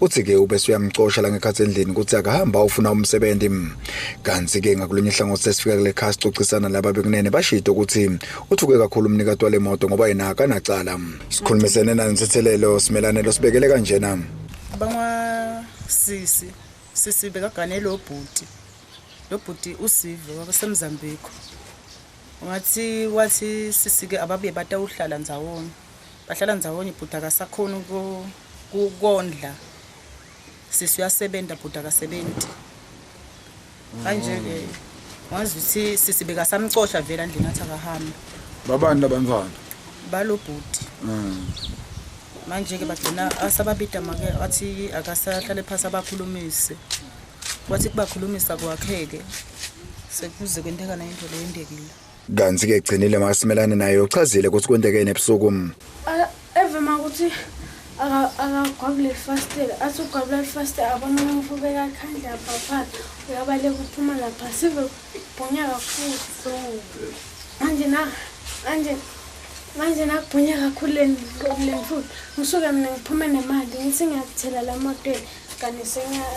uthi ke ubese uyamcosha la ngekhathi endlini ukuthi akahamba ufuna umsebenzi kanti ke ngakulunye ihlangothi sesifika kule khaya sicocisana laba bekunene bashito ukuthi uthuke kakhulu umnikati wale moto ngoba yena akanacala sikhulumisene nansethelelo simelane lo sibekele kanjena bangwa sisi sisi bekagane lo bhuti lo bhuti usive wabasemzambiko wathi wathi sisike ababuye batawuhlala ndzawonye bahlala ndzawonye bhuti akasakhoni ukondla sisi uyasebenza bhuti akasebenzi kanje-ke wazi ukuthi sisi bekasamcosha vele andleni athi akahamba babani labantwana balo bhuti mm. manje-ke bagcina asababida make athi akasahlale phasi abakhulumise wathi kubakhulumisa kwakheke sekuze kwenteka nayinto leyendekile Kanti ke gcinile makasimelane naye uchazile ukuthi kwentekeni ebusuku. Evema ukuthi akagwabule lifastela athi ugwabula lifastela abona umuntu ubeka ikhandla papa uyabaleka uphuma lapha sive bhunya kakhulu manje na manje manje nakubhunya kakhulu leniqobuleni futhi ngisuke mina ngiphume nemali ngithi ngiyakuthela la motweni kanti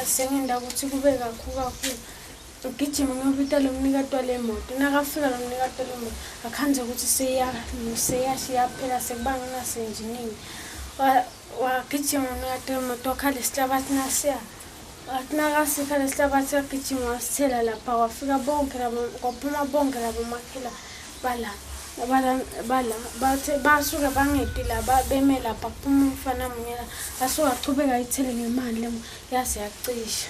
sengenda ukuthi kube kakhulu kakhulu Ugijima ngiyobita lo mnikati wale moto. Nakafika lo mnikati wale moto akhanze ukuthi seyasha iyaphela sekuba nginasenjinini. Wagijima mnikati wale moto wakhala isihlabathi nasiya. Wathi nakasika lesihlabathi wagijima wasithela lapha wafika bonke labo kwaphuma bonke labo makhela bala bala bala bathe basuke bangedi laba beme lapha kuphuma umfana munye la asuke achubeka ithele ngemali yaze yacisha